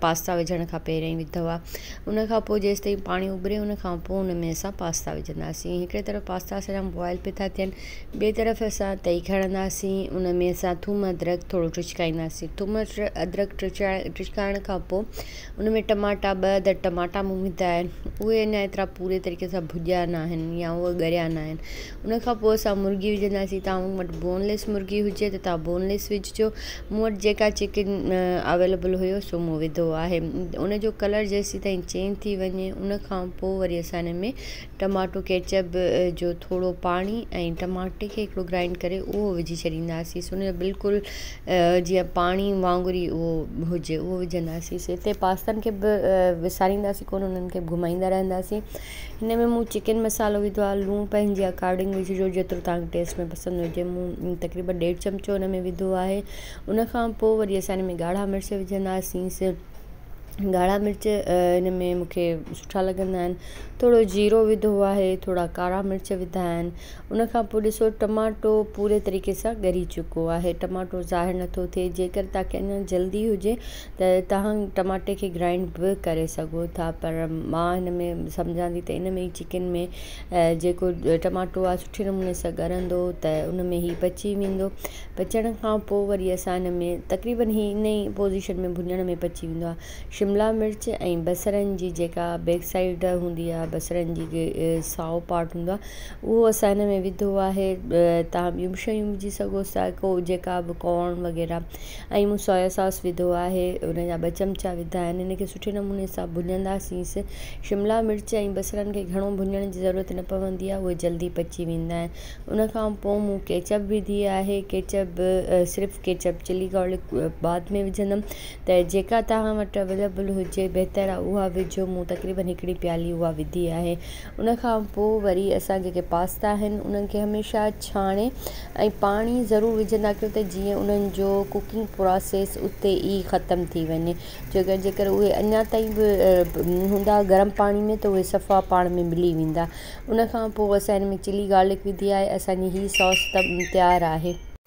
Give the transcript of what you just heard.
Pasta وجهڻ کان پهريائين وڌو آ ان کان پوء جيستائين پاڻي ابري ان کان پوء ان ۾ اسان پاستا وجهنداسين هڪڙي طرف پاستا اسان جا بوائل پي ٿا ٿين ٻي طرف اسان تئي کڻنداسين ان ۾ اسان ٿوم ادرڪ ٿورو ٽچڪائينداسين ٿوم ادرڪ ٽچائي ٽچڪائڻ کان پوء ان ۾ ٽماٽا ٻه عدد ٽماٽا مون وڌا آهن اهي اڃا ايترا پوري طريقي سان ڀڄيا نه آهن يا اهي ڳريا نه آهن ان کان پوء اسان مرغي وجهنداسين تون وٽ بون ليس مرغي هجي ته تون بون ليس وجهجو مون وٽ جيڪا چڪن اويلبل هيو سو مون وڌو آهي ان جو ڪلر جيسيتائين چينج ٿي وڃي ان کان پوء وري اسان ان ۾ ٽماٽو ڪيچپ جو ٿورو پاڻي ۽ ٽماٽي کي هڪڙو گرائنڊ ڪري اهو وجهي ڇڏينداسين ان جو بلڪل جيئن پاڻي وانگر ئي اهو هجي اهو وجهنداسين هتي پاستن کي به وسارينداسين ڪونه انهن کي به گهمائيندا رهنداسين هن ۾ مون چڪن مصالحو وڌو آهي لوڻ پنهنجي اڪارڊنگ وجهجو جيترو توهان کي ٽيسٽ ۾ پسند هجي مون تقريبن ڏيڍ چمچو هن ۾ وڌو آهي ان کان پوء وري اسان هن ۾ ڳاڙها مرچ وجهنداسينس ڳاڙها مرچ هن ۾ مونکي سٺا لڳندا آهن ٿورو جيرو وڌو آهي ٿورا ڪارا مرچ وڌا آهن ان کان پوء ڏسو ٽماٽو پوري طريقي سان ڳري چڪو آهي ٽماٽو ظاهر نٿو ٿئي جيڪر توهان کي اڃان جلدي هجي ته توهان ٽماٽي کي گرائنڊ به ڪري سگهو ٿا پر مان هن ۾ سمجهان ٿي ته ان ۾ چڪن ۾ جيڪو ٽماٽو آهي سٺي نموني سان ڳرندو ته ان ۾ هي پچي ويندو پچڻ کان پوء وري اسان هن ۾ تقريبن هي ان ئي پوزيشن ۾ ڀڃڻ ۾ پچي ويندو آهي شملا مرچ ۽ بصرن جي جيڪا بيڪ سائيڊ هوندي آهي بصرن جي سائو پارٽ هوندو آهي اهو اسان هن ۾ وڌو آهي توهان ٻيون به شيون وجهي سگهو ٿا ڪو جيڪا به ڪارن وغيره ۽ مون سويا ساس وڌو آهي ان جا ٻه چمچا وڌا آهن ان کي سٺي نموني سان ڀڃندا سيس شملا مرچ ۽ بصرن کي گهڻو ڀڃڻ جي ضرورت نه پوندي آهي اهي جلدي پچي ويندا آهن ان کان پو مون ڪيچپ وڌي آهي ڪيچپ به صرف ڪيچپ چلي گارلڪ بعد ۾ وجهندم ته جيڪا توهان وٽ اويليبل هجي بهتر آهي اها وجهو مون تقريبن هڪڙي پيالي اها وڌي آهي ان کان پوء وري اسان جيڪي پاستا آهن انهن کي هميشه ڇاڻي ۽ پاڻي ضرور وجهندا ڪيو ته جيئن انهن جو ڪوڪنگ پراسيس اتي ئي ختم ٿي وڃي ڇو ته جيڪر اهي اڃا تائين به هوندا گرم پاڻي ۾ ته اهي صفا پاڻ ۾ ملي ويندا ان کان پوء اسان ان ۾ چلي گارلڪ وڌي آهي اسان جي هي سوس تيار آهي.